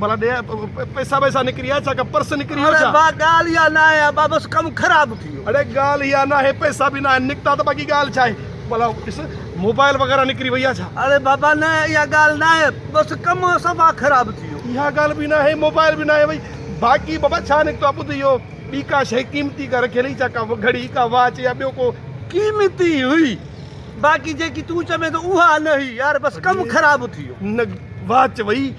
ڀلا ڏي پئسا وئسا نڪري ويا ڇا ڪا پرس نڪري ويو ڇا اڙي ڳالهه اها نه آهي ابا بس ڪم خراب ٿي ويو اڙي ڳالهه اها نه آهي پئسا به نه آهن نڪتا ته باقي ڳالهه ڇا آهي ڀلا ڏس موبائل وغيره نڪري وئي آهي ڇا اڙي بابا نه اها ڳالهه نه آهي بس ڪم صفا خراب ٿي ويو اها ڳالهه به نه آهي موبائل به نه آهي وئي باقي بابا ڇا نڪتو آهي ٻڌ اهو ٻي ڪا شيء قيمتي ڪا رکيل هئي ڇا ڪا گهڙي ڪا واچ يا ٻيو ڪو قيمتي هئي باقي جيڪي تون چوين ٿو اها نه هئي يار بس ڪم خراب ٿي ويو نه واچ وئي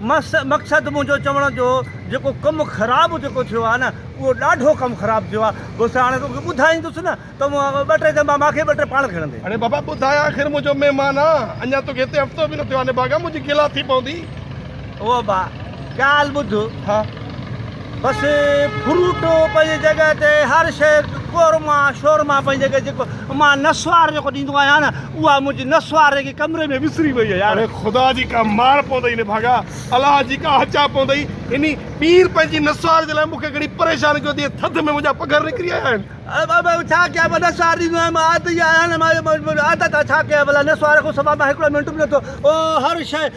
مقصد منهنجو چوڻ جو جيڪو ڪم خراب جيڪو ٿيو آهي نه اهو ڏاڍو ڪم خراب ٿيو آهي دوست هاڻي توکي ٻڌائيندس نه ته مون ٻه ٽي جنبا مانکي ٻه ٽي پاڻ کڻندي. اڙي بابا ٻڌاء آخر منهنجو مهمان آن اڃا توکي هتي هفتو به نه ٿيو آهي نڀاڳا منهنجي گلا ٿي پوندي. او با ڳالهه ٻڌ. ها. بس فروٽ پنهنجي جڳهه تي هر شيء قورما شورما پنهنجي جڳهه جيڪو مان نسوار جيڪو ڏيندو آهيان نه اها منهنجي نسوار جيڪي ڪمري ۾ وسري وئي آهي اڙي خدا جي ڪا مار پوندئي نه ڀاڳا الله جي ڪا هچا پوندئي انهي ٻير پنهنجي نسوار جي لاء مون کي گهڻي پريشان ڪيو اٿئي ٿڌ ۾ منهنجا پگهر نڪري آيا آهن. ڀلا ڇا ڪيان مان نسوار ڏيندو آهيان مان عادت ئي آهيان نه مان عادت آهي ڇا ڪيان ڀلا نسوار کان سواء مان هڪڙو منٽ به نٿو او هر شيء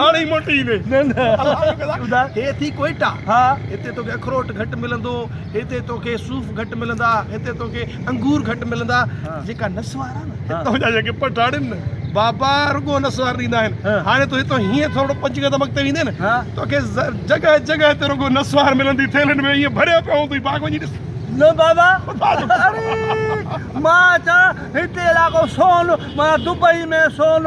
هاڻي ئي موٽي ايندين. نه نه الحمدلله هي ٿي ڪوئيٽا هتي توکي اخروٽ گهٽ ملندو هتي توکي صوف گهٽ ملندا هتي توکي انگور گهٽ ملندا جيڪا نسوار آهي نه هتان جا جيڪي پٺاڻ آهن نه بابا رڳو نسوار ڏيندا آهن هاڻي تون هتان هيئن ٿورڙو پنج قدم اڳتي ويندين نه توکي جڳهه جڳهه تي رڳو نسوار ملندي ٿيلهن ۾ ايئن ڀريا پيا هوندي باغ وڃي ڏس نه بابا اڙي مان چان هتي علائقو سون معنيٰ دبئي ۾ سون